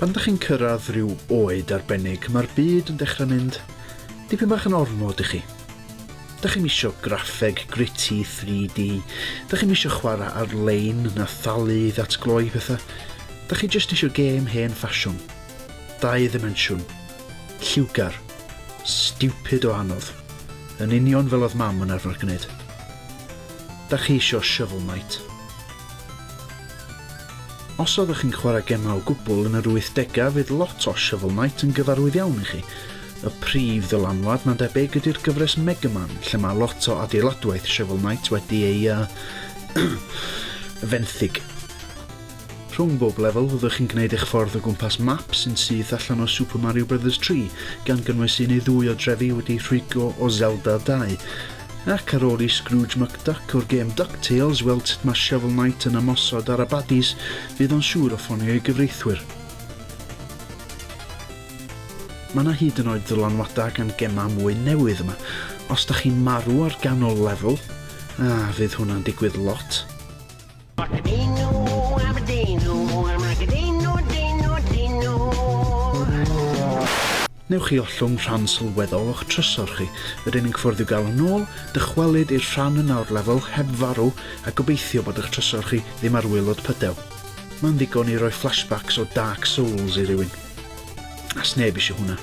Pan ydych chi'n cyrraedd rhyw oed arbennig, mae'r byd yn dechrau mynd dipyn bach yn ormod i chi. Dych chi'm isio graffeg gritty 3D, dych chi'm isio chwarae ar-lein na thalu i ddatgloi pethau, dych chi jyst isio gêm hen ffasiwn, dau ddimensiwn, Lliwgar. Stupid o anodd. Yn union fel oedd mam yn arfer gwneud. Da chi isio Shovel Knight? Os oeddech chi'n chwarae gemau o gwbl yn yr wythdegau fydd lot o Shovel Knight yn gyfarwydd iawn i chi. Y prif ddylanwad mae'n debyg ydy'r gyfres Mega Man lle mae lot o adeiladwaith Shovel Knight wedi ei uh, fenthyg. Rhwng bob lefel fyddwch chi'n gwneud eich ffordd o gwmpas map sy'n syth allan o Super Mario Brothers 3, gan gynnwys un neu ddwy o drefi wedi rhwygo o Zelda 2. Ac ar ôl i Scrooge McDuck o'r gêm DuckTales weld sut mae Shovel Knight yn ymosod ar y baddies, fydd o'n siŵr o ffonio ei gyfreithwyr. Mae yna hyd yn oed ddylanwadau gan gemau mwy newydd yma. Os da chi'n marw ar ganol lefel, a fydd hwnna'n digwydd lot, Macadino, Aberdino, ar Macadino, Dino, Dino. Newch chi ollwng rhan sylweddol o'ch trysor chi. Yr unig ffwrdd i'w gael yn ôl, dychwelyd i'r rhan yna o'r lefel heb farw a gobeithio bod eich trysor chi ddim ar waelod pydew. Mae'n ddigon i roi flashbacks o Dark Souls i rywun. A sneb eisiau hwnna.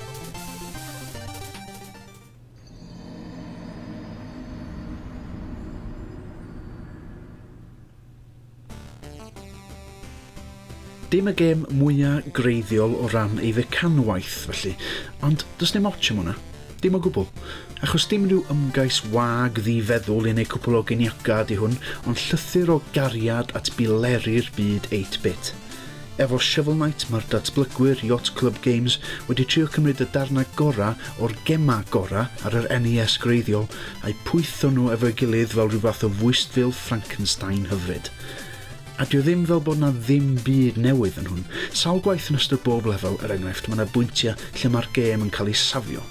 Dim y gêm mwya greiddiol o ran ei fecanwaith, felly, ond does dim ots am hwnna. Dim o gwbl. Achos dim rhyw ymgais wag ddi-feddwl yn ei cwpl o geniaca ydy hwn, ond llythyr o gariad at bileri'r byd 8-bit. Efo Shovel Knight mae'r datblygwyr Yacht Club Games wedi trio cymryd y darnau gorau o'r gemau gorau ar yr NES gwreiddiol a'u pwytho nhw efo'i gilydd fel rhyw fath o fwystfil Frankenstein hyfryd. A 'dio ddim fel bod 'na ddim byd newydd yn hwn. Sawl gwaith yn ystod bob lefel, er enghraifft, mae 'na bwyntiau lle mae'r gêm yn cael ei safio.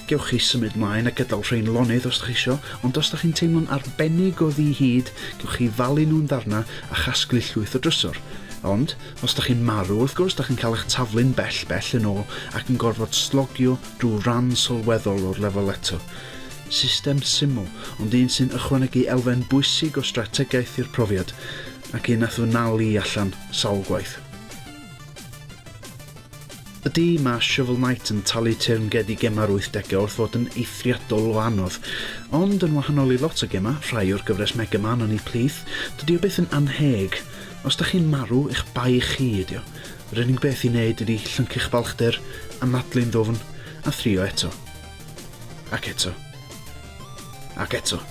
Gewch chi symud mlaen a gyda'l rhein lonydd os da chi isio, ond os da chi'n teimlo'n arbennig o ddi hyd, gewch chi falu nhw'n ddarna a chasglu llwyth o drysor. Ond, os da chi'n marw, wrth gwrs, da chi'n cael eich taflu'n bell, bell yn ôl ac yn gorfod slogio drwy ran sylweddol o'r lefel eto. System syml, ond un sy'n ychwanegu elfen bwysig o strategaeth i'r profiad, ac un nath fy nal i allan sawl gwaith. Ydy, mae Shovel Knight yn talu teyrnged i gemau'r wythdegau wrth fod yn eithriadol o anodd. Ond, yn wahanol i lot o gemau, rhai o'r gyfres Mega Man yn eu plith, dydy o byth yn annheg. Os 'da chi'n marw, eich bai chi ydy o. Yr unig beth i wneud ydy llyncu'ch balchder, anadlu'n ddwfn, a thrio eto. Ac eto. Ac eto.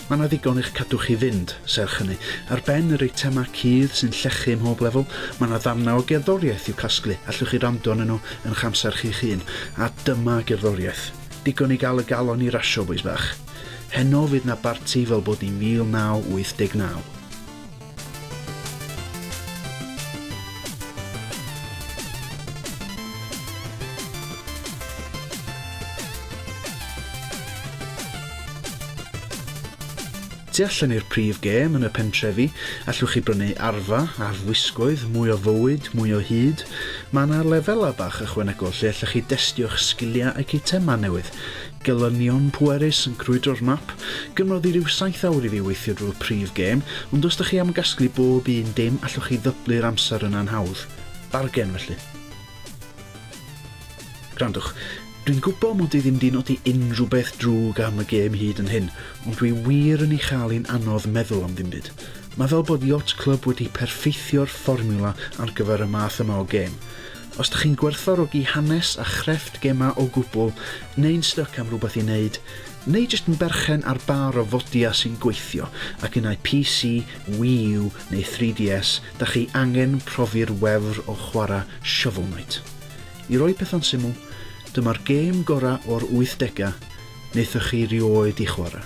Mae 'na ddigon i'ch cadw chi fynd, serch hynny. Ar ben yr eitemau cudd sy'n llechu ym mhob lefel, mae 'na ddarnau o gerddoriaeth i'w casglu, allwch chi wrando arnyn nhw yn y'ch amser chi'ch hun. A dyma gerddoriaeth. Digon i gael y galon i rasio, bois bach. Heno fydd 'na barti fel bod ni'n 1989. Tu allan i'r prif gêm yn y pentrefi, allwch chi brynu arfa, arfwisgoedd, mwy o fywyd, mwy o hyd. Mae yna lefelau bach ychwanegol lle allwch chi destio'ch sgiliau ac eitemau newydd. Gelynion pwerus yn crwydro'r map. Gymrodd i ryw saith awr i fi weithio drwy'r prif gêm, ond os dych chi am gasglu bob un dim allwch chi ddyblu'r amser yn anhawdd. Bargen felly. Gwrandwch, dwi'n gwbo mod i ddim di nodi unrhyw beth drwg am y gêm hyd yn hyn, ond dwi wir yn ei chael hi'n anodd meddwl am ddim byd. Mae fel bod Yacht Club wedi perffeithio'r fformiwla ar gyfer y math yma o gêm. Os dych chi'n gwerthfawrogi hanes a chrefft gemau o gwbl, neu'n styc am rhywbeth i wneud, neu jyst yn berchen ar bar o fodia sy'n gweithio ac unai PC, Wii U neu 3DS, dach chi angen profi'r wefr o chwarae Shovel Knight. I roi pethau'n syml, dyma'r gêm gorau o'r wythdegau wnaethoch chi rioed i chwarae.